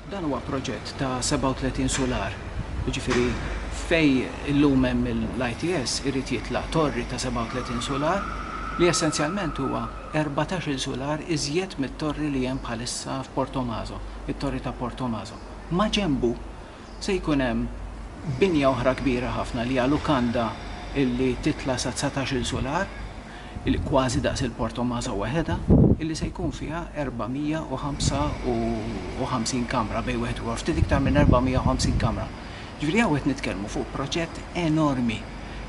Dan huwa proġett ta' 37 solar, ġifiri fej illum hemm l-ITS irid jitla' torri ta' 37 solar li essenzjalment huwa 14 solar iżjed mit-torri li hemm bħalissa f'Portomaso, it-torri ta' Portomaso. Ma ġembu Se jkun hemm binja oħra kbira ħafna li hija lukanda li titla' sa dsatax-il sular, li kważi daqs il-Port Tommaso waħedha, li se jkun fiha 455 kamra bejn wieħed u ieħor, ftit iktar minn 450 kamra. Jiġifieri hawn qed nitkellmu fuq proġett enormi,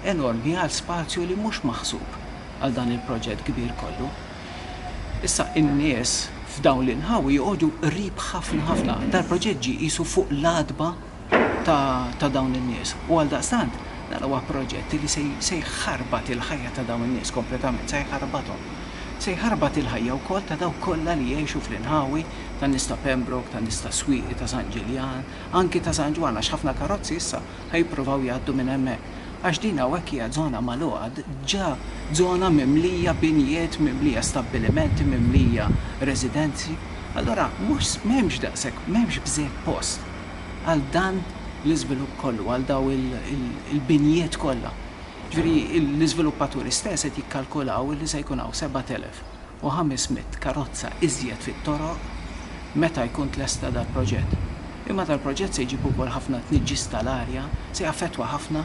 enormi għal spazju li mhux maħsub għal dan il-proġett kbir kollu. Issa n-nies f'dawn l-inħawi joqogħdu qrib ħafna ħafna. Dal-proġett ġie qisu fuq l-għatba ta' dawn in-nies u għaldaqstant dan huwa proġett li se jħarbat il-ħajja ta' dawn in-nies kompletament, se jħarbathom. Se jħarbat il-ħajja wkoll ta' dawk kollha li jgħixu fl-inħawi tan-nies ta' Pembroke, tan-nies tas-Swieqi, ta' San Ġiljan, anki ta' San Ġwann għax ħafna karozzi issa, Ħa jippruvaw jgħaddu minn hemmhekk għax din hawnhekk hija żona magħluqa, ġa żona mimlija binjiet, mimlija stabbilimenti, mimlija residenzi. Allura mhux, m'hemmx daqshekk, m'hemmx bżejjed post għal dan l-iżvilupp kollu, għal dawn il-binjiet kollha. Jiġifieri l-iżviluppaturi stess qed jikkalkulaw li se jkun hawn 7,000. u 500 karozza iżjed fit-toroq meta jkun tlesta dal-proġett. Imma dal-proġett se jġib ukoll ħafna tniġġis tal-arja, se jaffettwa ħafna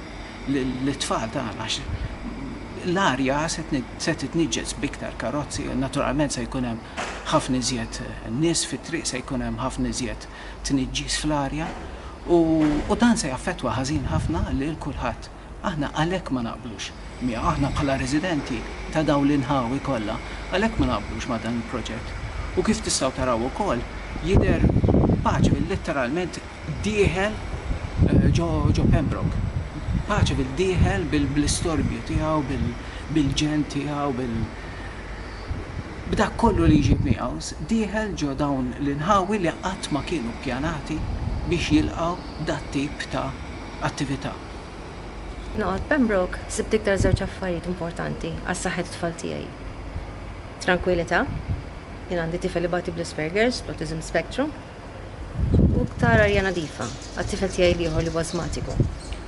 lit-tfal tagħna għax l-arja se titniġġes b'iktar karozzi, naturalment se jkun hemm ħafna iżjed nies fit-triq, se jkun hemm ħafna iżjed tniġġis fl-arja u dan se jaffettwa ħażin ħafna lil kulħadd. Aħna għalhekk ma naqblux miegħu, aħna bħala residenti ta' dawn l-inħawi kollha, għalhekk ma naqblux ma' dan il-proġett. U kif tistgħu taraw ukoll, jidher paċevi letteralment dieħel ġo Pembroke. Paċevi dieħel bl-istorbju tiegħu, bil-ġenn tiegħu, bil. B'dak kollu li jġib miegħu, dieħel ġo dawn l-inħawi li qatt ma kienu ppjanati biex jilqgħu dat-tip ta' attività. Noqgħod Pembroke sibt iktar żewġ affarijiet importanti għal saħħet it-tfal tiegħi. Trankwilità, jien għandi tifel ibati bl-Asperger's, bl-Autism Spectrum, u iktar arja nadifa għat-tifel tiegħi l-ieħor li huwa ażmatiku.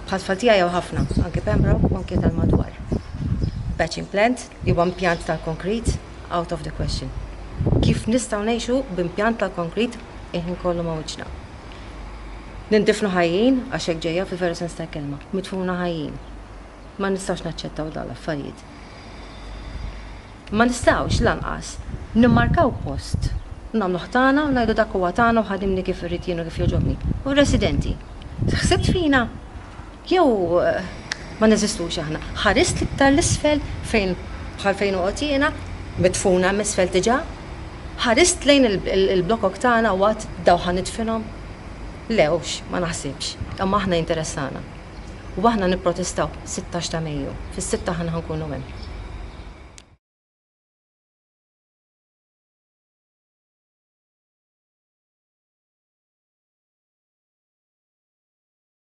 Bħat-tfal tiegħi hawn ħafna, anke Pembroke u anke tal-madwar. Patch and plant, li huwa impjant tal-konkrit, out of the question. Kif nistgħu ngħixu b'impjant tal-konkrit il-ħin kollu ma' wiċċna? Nindifnu ħajjin, għax hekk ġejja fil-veru sens tal-kelma, midfuna ħajjin. Ma nistgħux naċċettaw dawn l-affarijiet. Ma nistgħux lanqas nimmarkaw post u nagħmluh tagħna u ngħidu dak huwa tagħna u ħadimni kif irrid jien u kif jogħġobni. U r-residenti? Ħsibt fina? Jew ma neżistux aħna? Ħarist l-iktar 'l isfel fejn bħal fejn noqgħod jiena, midfuna hemm isfel diġà? Ħarist lejn il-blokok tagħna u għadt daw ħa nidfinhom? Le hux, ma naħsibx. Imma aħna jinteressana. U aħna nipprotestaw, sittax ta' Mejju. Fis-sitta aħna ħa nkunu hemm.